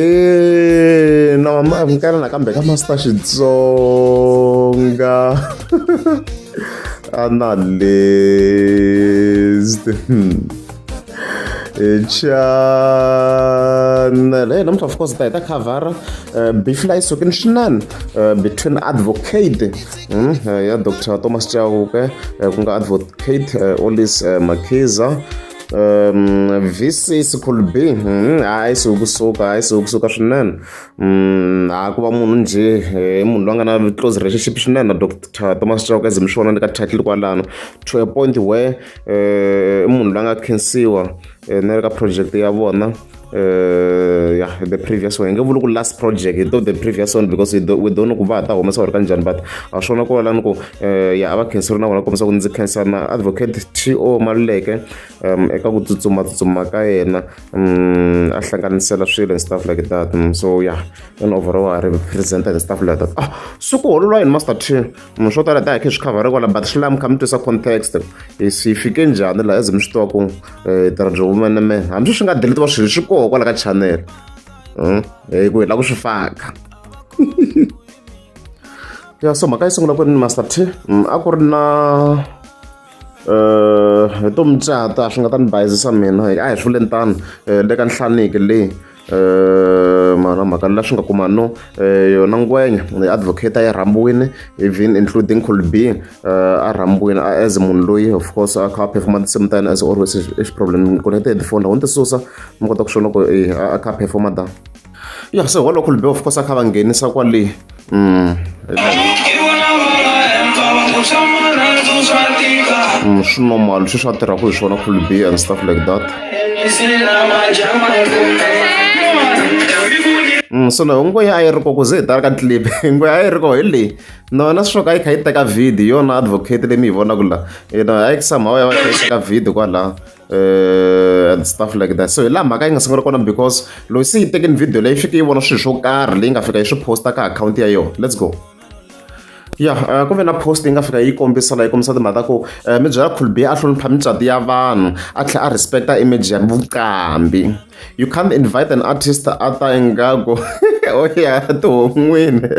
ahe na mama minkara nakambe ka master xitsonga analyst channel hey namuntlha of course ta hi ta khavhara befly sukini swinene between advocate Hmm, eh, ya dr thomas chauke eh, ku nga advocate eh, olis makhiza um vc sikhulu b hmm, hayi siwukusuka hayi siwukusuka swinene um hayi ku va munhu njhe i munhu loyi a nga na close relationship swinene na dr thomas chauke zi mi swi vona ni ka title kwalano to a point where i munhu loyi a nga khensiwa eh, ni ri ka project ya vona uh, yeah, the previous one hi nge vuli ku last project hi to the previous one because we don't know ku va ha ta humesa wu ri ka njhani but a swi vona ku valani ku uh, ya a va khenseri na vona kombisa ku ndzi khensa na advocate t o maluleke um eka ku tsutsumatsutsuma ka yena um a hlanganisela swilo and stuff like that um, so yeah and overall a representa and stuff like that ah swi ku hololwa yini master t munhu swo tala tihakhe swi khavhariwa la but swi lava mi kha mi twisa context swi fike njhani laha as mi swi tiva ku um eh, tirhandza vumene me hambi swi nga deletiwa swilo swi koho kwala ka channel hmm? hi ku hi lava ku swi faka ya so mhaka yi sungula ku ri ni master t hmm, a ku ri na um hi to mucata swi nga ta ni bayizisa mina a hi swi vule ni tano um le ka nhlaniki leyi eh, mara mhaka la swi nga kuma no eh, yona ngwenya advocate a yi rhambiwile even including colby eh, a rhambiwile as munhu loyi of course a kha a performa tinsimu ta yena as always i xiproblem ku na ti-headphone loko ni ti susa mi kota ku swi loko a kha a performa ta ya se holokulbe of course a kha va nghenisa kwale Mm, mm, swi normal swi swa tirhaka hi swona full b and stuff like that Mm, so no ngwe a yi ri ko ku ze hi tala ka clip ngwe a yi ri ko hi leyi nona swi ka yi kha yi teka video yona advocate leyi mi yi vonaka la yona a yi somehow ya va yi kha yi teka video kwalaho uh, and stuff like that so hi laha mhaka yi nga sungula kona because loyi se yi tekeni video leyi fike yi vona swilo swo karhi leyi nga fika yi swi posta ka akhawunti ya yona let's go ya eh, ku ve na post yi nga fika yi kombisa la yi kombisa timhaka ta ku eh, mi byela khulbi a hlonipha mitswati ya vanhu a tlhela a respecta image ya vuqambi You can't invite an artist a ta ingaku o ya tihon'wini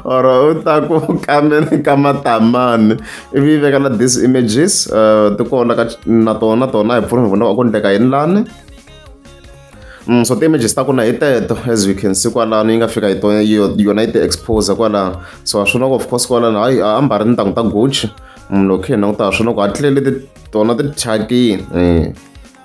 or u ta ku kameni ka matamani ivi veka na these images uh, ti kona ka na tona tona hi pfuna hi vona va ku ndleka yini lani Mm, so ti-images ta kona hi teto as we can see kwalano yi nga fika hi tona yona yi ti expose kwalano so ha swona ku of course kwalano hayi a ambari ni ntangu ta gucci munhu mm, loko khe hi languta ha swona ku hatlele tona ti thyakini um eh.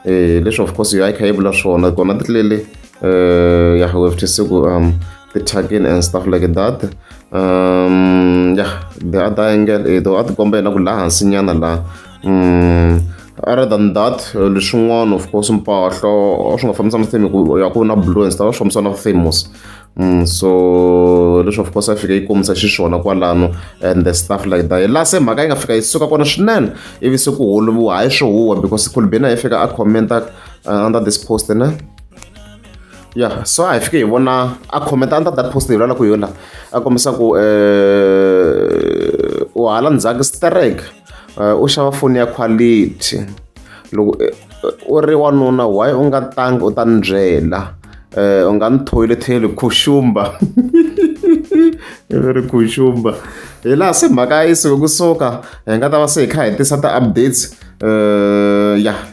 eh, leswi of course yo a yi kha yi vula swona kona ti tlele eh, ya we have to see ku um the tagging and stuff like that um yeah the other angle eh, though a ti komba yena ku laha hansinyana laha um other than that eh, leswin'wana of course mpahlo swi nga fambisana theme ku ya ku na blue and stuff swi fambisana famous Mm, so leswi of course a fika yi kombisa xiswona kwalano and the stuff like that laha se mhaka yi nga fika yi suka kona swinene ivi se ku holoviwa hayi swo huwa because kulbena yi fika a commenta uh, under this post ne ya so a hi fike hi vona a commenta under that post hi lala ku yola a kombisa ku um eh, u hala ndzhaku strike u xava foni ya quality loko u ri wanuna why u nga tangi u ta ni byela u nga ni thoyiletheli khuxumba i ve ri khuxumba hi laha se mhaka yi suka kusuka hi nga ta va se hi kha hi tisa ti-updates ya.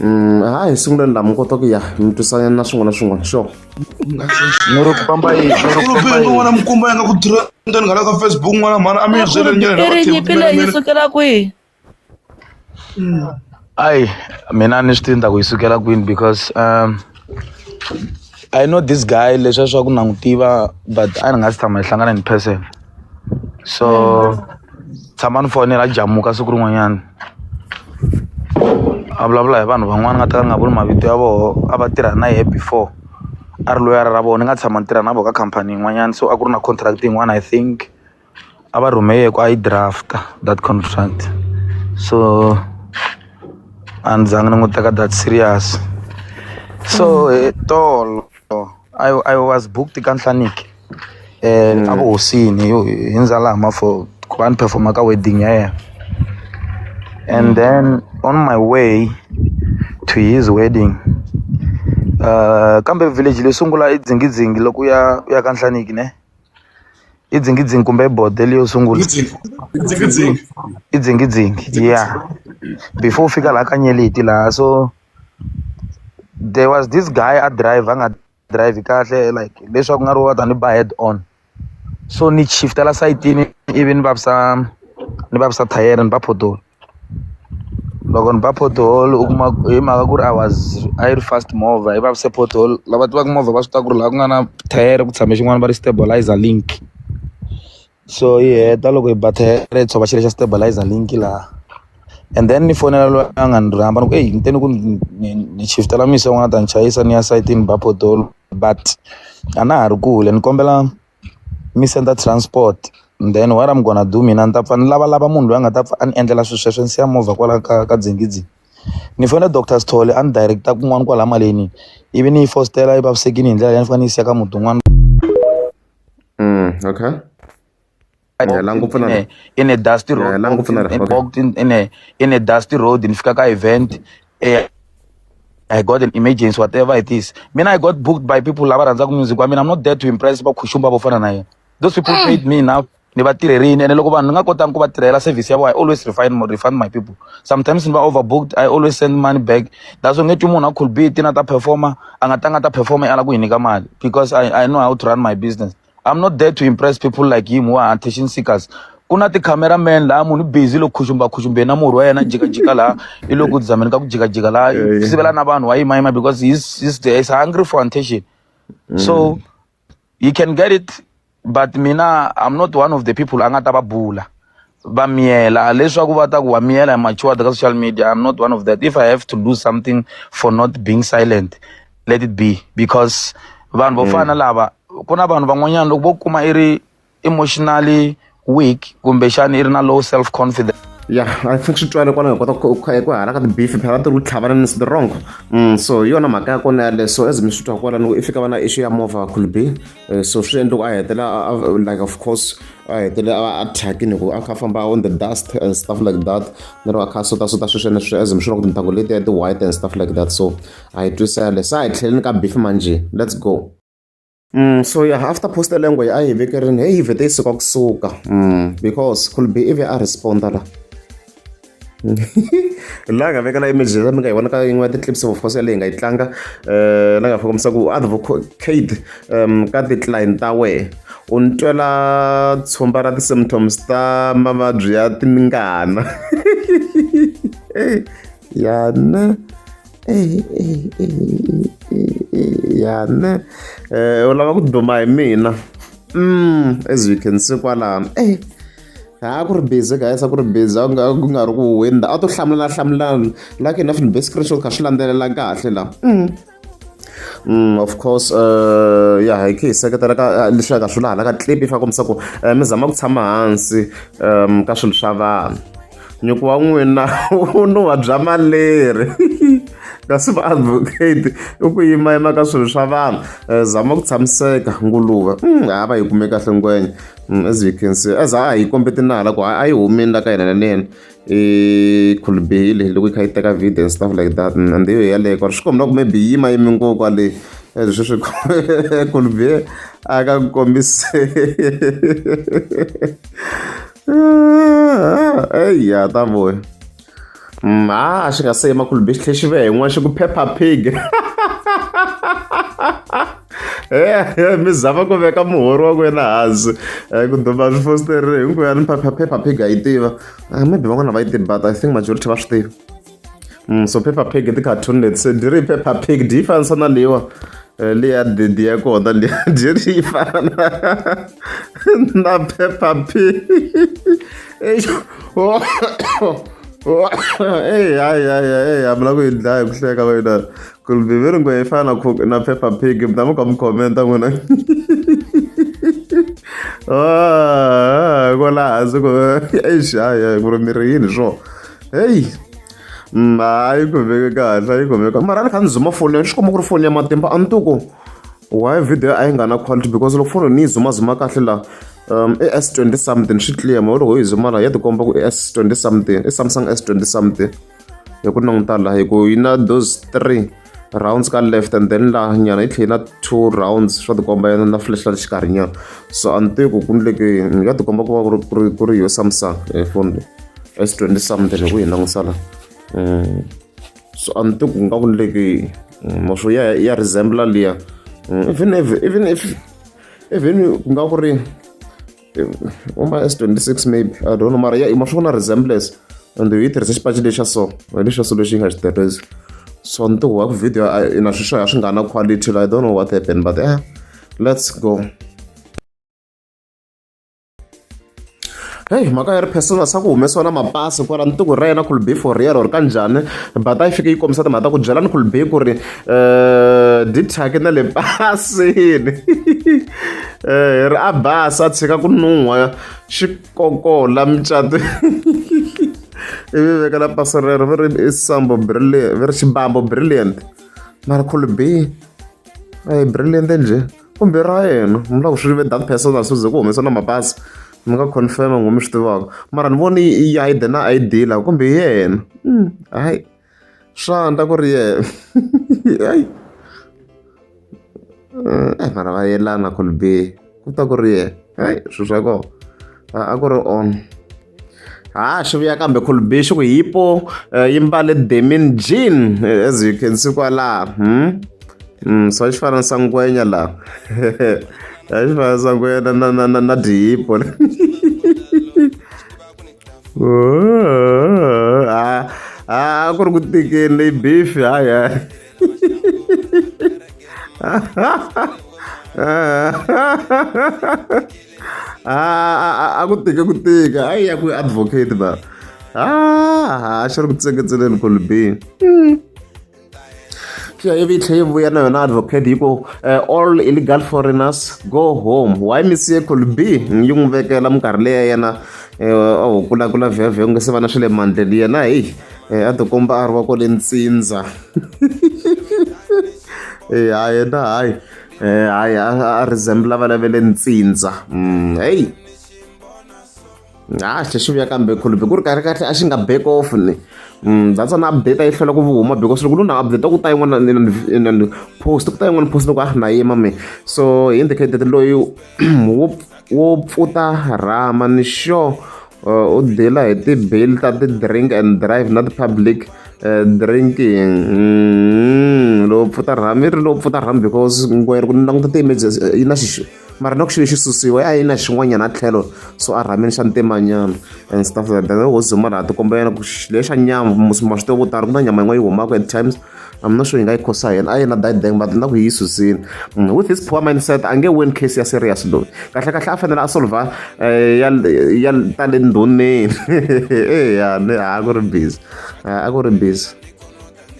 Mm, ha hi sungule ndhamu kota ku ya mi twisanyana na swin'wana na swin'wana sure nuri ku famba yi nuri ku famba yi n'wana mukumba ya nga ku tirha ndani nghala ka facebook n'wana mhana a mi yi byele nyele i ri nyimpi leyi yi sukela kwihi ayi mina ni swi tiva ku yi sukela kwini because um I know this guy leswi a swa ku na n'wi tiva but a ni nga si tshama hi hlangana in person so tshama ni fonela a jamuka siku rin'wanyana a vulavula hi vanhu van'wana nga ta ka ni nga vuli mavito ya vona a va tirha na yehe before a ri loyara ra vona ni nga tshama ni tirha na vona ka khampani yin'wanyana so a ku ri na contract yin'wana I think. a va rhume yena ku a yi draft that contract so a ni zanga ni n'wi teka that serious so hi tolo I, I was booked ka nhlaniki um a vuhosini yo hi ndzalama for ku va ni performa ka wedding ya yena and then on my way to his wedding uh kambe village leyi sungula i dzingidzingi loko u ya u ya ka nhlaniki ne i dzingidzingi kumbe i bodo leyo sungula i dzingidzingi ya before u fika laha ka nyeleti laha so there was this guy a drive a nga drive kahle like leswaku nga ri wa ta ni ba head on so ni shiftela sayitini ivi ni vavisa ni vavisa thayere ni va photola. Loko ni ba pothole u kuma hi mhaka ku ri I was a yi ri fast movha yi vavise pothole lava tivaka movha va swi tiva ku ri laha ku nga na thayere ku tshame xin'wana va ri stabiliser link so yi heta loko yi ba thayere yi tshova xilo xa stabiliser link laha and then ni fonela loyi a nga ni rhamba ni ku ey ni te ni ku ni shift-ela misi van'wani a ta ni chayisa ni ya sayitini ni ba pothole but a na ha ri kule ni kombela. mi senda transport then what am gonna do mina ni ta pfa ni lavalava munhu loyi a nga ta pfa a ni endlela swilo sweswo ni siya movha kwala ka ka Dzingidzi ni fona doctor Sithole a ni direct kun'wana kwala maleni ivi ni yi fositela yi vavisekile hi ndlela leyi a ni fanele ni yi siya ka muti wun'wana okay. in a dusty road in a in a dusty road ni fika ka event eh, I got an emergency whatever it is mina I got booked by people lava rhandzaka music wa mina I'm not there to impress vakhuxumba vo fana na yena those people mm. paid me enough ni va tirherini ene loko vanhu ni nga kotangi ku va tirhela service ya vona i always refine refund my people sometimes ni va overbooked i always send money back that's why nge twi munhu a cool be tina ta performer a nga tanga ta performer i ala ku hi nyika mali because I, i know how to run my business I'm not there to impress people like him who are attention seekers. Kuna ti cameraman la munhu busy lo khushumba khushumbe na murhi wa yena jika jika la i lo ku dzameni ka ku jika jika la Yeah, yeah. sivela na vanhu wa yima yima because he's he's there he's hungry for attention. So you can get it but mina I'm not one of the people a nga ta va bula va miyela leswaku va ta ku wa miyela hi machuwada ka social media I'm not one of that if I have to lose something for not being silent let it be because vanhu vo fana mm. lava ku na vanhu van'wanyana loko vo kuma i ri emotionally weak kumbexani i ri na low self confidence ya i think swi twale kwalaho hi kota ku hala ka tibeef phela ti ri tlhavana ni the wrong mm, so hi yona mhaka ya kona yale so as mi swi twa kwala loko i fika va na issue ya movha could be eh, so swi endla ku a hetela like of course a hetele a thyakini hikuva a kha famba on the dust and stuff like that lero a kha sota sota sweswene sweswe as mi swi loko tintangu letiya ti-white and stuff like that so Ha yi twisisa yaleyo. Se a hi tlheleni ka Beefman njhe. Let's go. Umm so ya after poster leyi a ngo a hi vekerini heyi yi vhete yi suka kusuka umm because could be ivi a respond-a la la nga vekela image leyi mi nga yi vona ka yin'wana ya ti-clips of course yaleyi hi nga yi tlanga um la nga fika misa ku advocate um ka ti-client ta wehe u ni twela tshumba ra ti-symptoms ta mavabyi ya tingana yana ya ne um u lava ku duma hi mina mm as you can see kwalano e a ku ri busy guys a ku ri busy a ku nga ri ku winda a to hlamulana hlamulana like enough ni be screenshot kha swi landzelela kahle la mm. Mm, of course uh, ya hi khe hi seketela ka uh, leswi ya ka swilo hala ka clip yi fa kombisa ku uh, mi zama ku tshama hansi um ka swilo swa vanhu nyuku wa n'wina u no wa bya maleri kasi va-advocate i ku yimayima ka swilo swa vanhu eh, zama ku tshamiseka nguluve mm, ha va yi kume kahle ngwenya mm, as you can see as a hi kombe tinala ku a yi humini la ka yena na nena i khulubihile loko yi kha yi teka video and stuff like that mm, and yo yaleyo kwari swi kombela ku maybe yi yima yimi ngo kwale eh, leswi swi khulubihe a ka ku kombise eyi ya ta voya mm, a a xi nga se yima khulubi xi tlhe xi ve hin'wana xi ku phepha pig e mi zama ku veka muhori wa kwena hansi eh, ku duma swifositeri hinkweyani phepha phepha pig a yi tiva ah, maybe van'wana va yi tiva but i think majority va swi tiva Mm, so paper pig i ti-cartoon leti se diri paper pig dyi fanisa na leyiwa eh, leya dedi ya kona leya diri yi fana na na paper pig eyi hayihayihayihayi mi la ku yi dlaya hi ku hleka va yina ku ri bibele ngwe yi fana na paper pig mi ta mi ka mi commenta n'wina ko laha hansi ku exi hayi hayi ku ri miri yini swona heyi na yi khomeke kahle a yi khomeka mara a ni kha ni zuma foni ni swi kuma ku ri foni ya matimba a ni to ku why video a yi nga na quality because loko foni ni yi zumazuma kahle laha um i s twenty something swi clear ma loko yi zuma laha ya tikomba ku i s twenty something i samsung s twenty something hi ku languta laha hi ku yi na those three rounds ka left and then la nyana yi tlhela na two rounds swa tikomba yena na flash la le xikarhi nyana so a ni tivi ku ku ni leke ni nga tikomba ku va ku ri ku ri ku ri yo samsung phone leyi s twenty something hi ku yi langusa la mm. so a ni tivi ku nga ku ni leke mm, maswo ya ya resembla liya mm, even even if even ku nga ku ri uma s 26 maybe i don't know mara ya ima swi vona resemblance and yi tirhisa xipaci lexa so lexi so lexi yi nga xi tirhisi so ni tihuwa ku video ina swi swo ya swi nga na quality i don't know what happened but eh, let's go heyi mhaka ya ri persona sa ku humesiwa na mapasi kwala ni tiku ra yena khulube for real or ka njhani bata yi fike yi kombisa timhaka ta ku byela ni khulube ku ri Eh, dithyaki na le basini eh, hi ri a basa a tshika ku nuhwa xikokola mucato ivi veka la pasi rero vi ri i sambo brilliant vi ri xibambo brilliant mara khulubi a hi brilliant njhe kumbe ra yena mi lava ku swi ve that person a suze ku humesa na mapasi mi nga confirm ngoma swi tivaka mara ni voni i ID na ID la kumbe hi yena hmm, hayi swandla ku ri yena hayi eh mara va yelana Kolbe ku ta ku ri yena hayi swilo swa kona a a ku ri on ha xi vuya kambe Kolbe xi ku hipo eh, yi mbale demin jean eh, as you can see kwalaha hmm? Mm, so xi fana na sangwenya laha a xi fana na sangwenya na na na na na dihipo a ku ri ku tikeni leyi beef haya a ku tike ku tika a ya ku advocate ba a xi ri ku tseketseleni kolibini Sure, every time we are not advocate you go uh, all illegal foreigners go home. Why Monsieur could be yung veke la mkarle yana eh oh kula kula vya vya ngese vana shile mandeli yana eh eh ato komba arwa ko lentsinza. Eh hayi na hayi eh hayi a resembla vana vele ntsinza. Mm hey ha hle xi vuya kambe khulubi ku ri kahle kahle a xi nga back off ni mm, that's an update a yi hlwela ku huma because loko luna update ku ta yin'wana ni post ku ta yin'wana post loko a ri na yima me so hi indicated loyi wo wo pfuta rama ni sure uh, u dela hi ti-bail ta ti-drink and drive na ti-public uh, drinking mm, lowu pfuta rhami ri lowu pfuta rhami because ngwere ku languta ti-emergency yi na xixo mara loko xilo xi susiwe a yi na xin'wanyana tlhelo so a rhamini xa ntimanyana and stuff like that hosi mara ha tikombela ku leyi xa nyama ma swi tiva vo tala ku na nyama yin'wana yi humaka at times I'm not sure yi nga yi khosa yena a yena that dang but na ku yi susini mm, with his poor mindset a nge win case ya serious loyi kahle kahle a fanele a solva eh, ya ya ta le ndhuneni eya eh, a ku ri busy a ku ri busy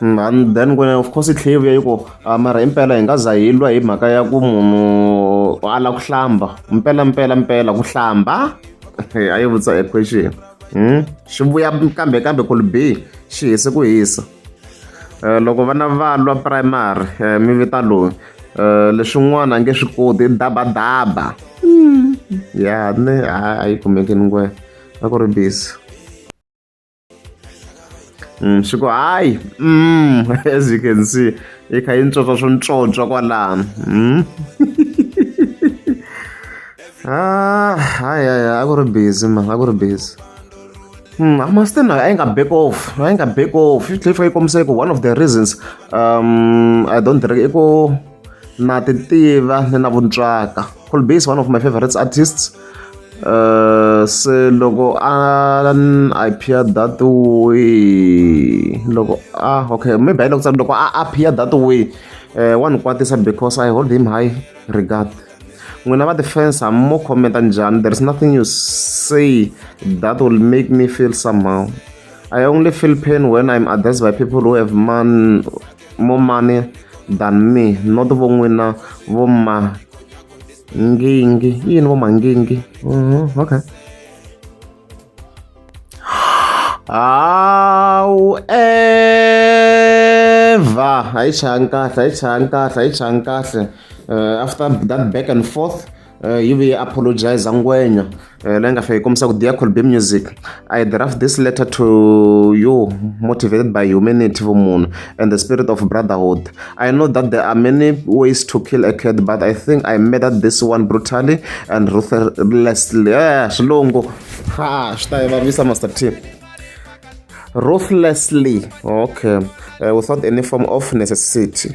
and then when of course tlhela yi vuya yi ku ah, mara hi mpela hi nga za hi lwa hi mhaka ya ku munhu a la ku hlamba mpela mpela mpela ku hlamba a yi vutisa equation hmm? xi vuya kambe kambe ku bi xi hise ku hisa eh, loko vana va lwa primary eh, mi vita loyi eh, leswin'wana a nge swi koti dabadaba hmm. ya ne a yi kumeki ni ngwe a ku ri busy Mm, swi ku hayi mm, as you can see yi kha yi ntswotswa swo ntswotswa kwalano mm. ah, hayi hayi a ku ri busy ma a ku ri busy Mm, Amastin I ain't back off. I ain't back off. If I come say one of the reasons um I don't drink ego na ti tiva ni na vuntswaka cool base one of my favorites artists uh, se loko a appear that way loko a okay maybe hayi loko tsari loko a appear that way uh, wa ni kwatisa because i hold him high regard n'wina va defense ha mo commenta njhani there is nothing you say that will make me feel somehow i only feel pain when i'm addressed by people who have man Mumani than me not vo n'wina vo ma ngingi yini vo mangingi mm-hmm, okay hawu eva hayi chayani kahle hayi chayani kahle hayi chayani kahle eh, after that back and forth Uh, yi vuye apologize ngwenya uh, leyi nga fika yi kombisa ku dear colbe music i draft this letter to you motivated by humanity vumunhu and the spirit of brotherhood i know that there are many ways to kill a cat but i think i murdered this one brutally and ruthlessly yeah, xilungu ha swi ta yi vavisa master t ruthlessly okay uh, without any form of necessity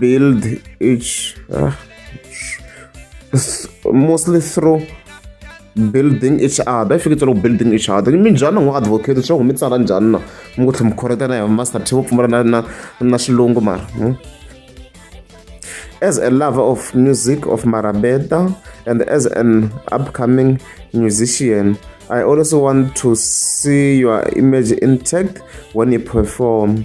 build each uh, mostly through building each other if you get building each other mi njhani n'wi advocate swa ku mi tsala njhani na mi ku tlhe mi khoreta na hi master team pfumala na na na xilungu mara hmm? as a lover of music of marabeda and as an upcoming musician i also want to see your image intact when you perform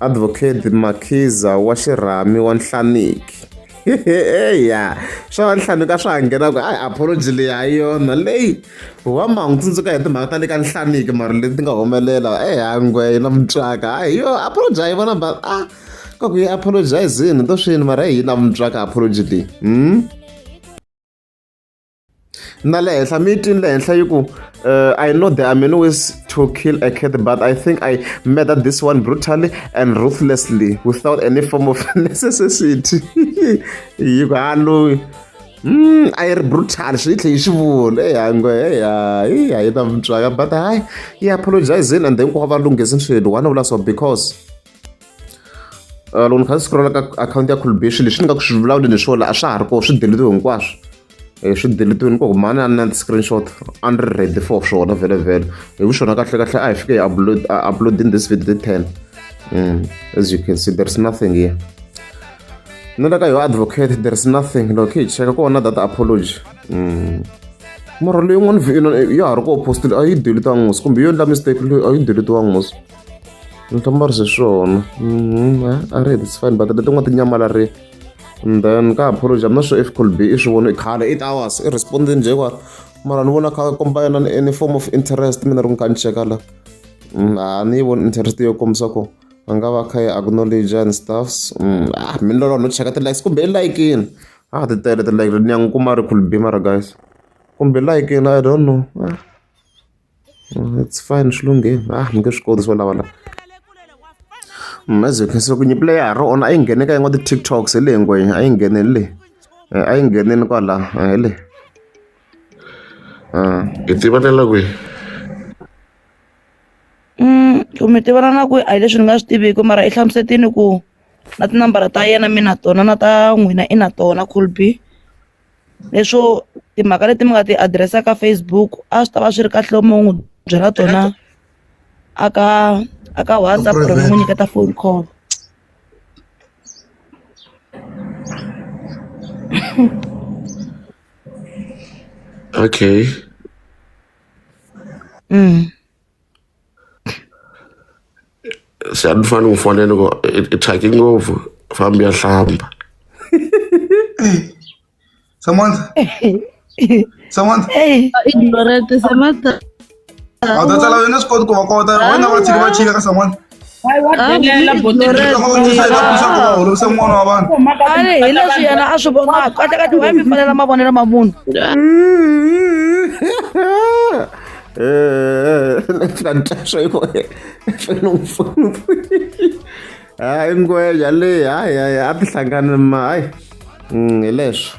Advocate Makhiza wa xirhami wa nhlaniki ya swa va nhlaniki a swa ha nghena ku a apology leyi ha yona leyi wa mangu tsundzuka hi timhaka ta le ka nhlaniki mara leti ti nga humelela ehangwe na mutswaka a hi yo apology a yi vona ba a ka ku yi apologizini to swini mara hi yi na mutswaka apology leyi hmm? na le henhla mi yi twini le henhla yi ku uh, i know there are many ways to kill a cat but i think i murdered this one brutally and ruthlessly without any form of necessity yi ku ha loyi mm, a yi ri brutal swi yi tlhe yi swi vula eyango eya yi a yi ta mutswaka but hayi yi apologizini and then ku va va lunghisi swilo wana vula so because uh, loko ni kha ni scrolla ka akhawunti ya khulubixi leswi ni nga ku swi vulavuleni swona a swa ha ri koho swi deletiwe hinkwaswo e swi deletiwini ku mani a ni na ti-screenshot a ni ri ready for swona vhele vhele hi vu swona kahle kahle a hi fike hi upload uploading this video the ten mm, as you can see there is nothing here ni le ka yo advocate there is nothing loko hi cheka ku vona data apology mm. mara leyi n'wana vhina ya ha ri ku opostile a yi deletiwanga ngos kumbe yo endla mistake leyi a yi deletiwanga ngos ni hlamba ri se swona mm, a ri hetisifani but letin'wana ti nyamalarile and then ka ha pholoja mna swo if could be i swi vona i khale eight hours i respondini nje kwala mara ni vona kha komba yena ni any form of interest mina ri n'wi ka ni cheka la mm, a ni yi voni interest yo kombisa ku a nga va kha yi acknowledge and stuffs mm, ah mi lolo no cheka ti-likes kumbe i like-ini a ah, ti tele ti-like ni ya n'wi kuma ri could be mara guys kumbe like-ini i don't know ah. It's fine swi lunghile a ni nge swi koti swo lava la as you can see loko nyimpi leyi ya ha ri ona a yi nghene ka yin'wana ti-tiktoks hi le ngwenya a yi nghene hi le a yi ngheneni kwala hi le hi tivelela kwihi ku mi tivana na ku a hi leswi ni nga swi tiviki mara i hlamusetini ku na tinambara ta yena mi na tona na ta n'wina i na tona colby leswo timhaka leti mi nga ti adirese ka Facebook a swi ta va swi ri kahle loko mi n'wi byela tona a ka a ka WhatsApp or mi n'wi nyiketa phone call okay mm. se a ni fanele ku fonela loko i i thyake ngopfu fambi ya hlamba Samantha. Samantha. Ignorante, Samantha. A wu ta tsala wena swi koti ku va kota wena va tshika va chika ka Samantha. ale hi leswi yena a swi vonaka a teka tiwaya mi fanela mavonelo ma munhu hayi ngweja leyi hayi hayi a ti hlangani ma hayi hi leswo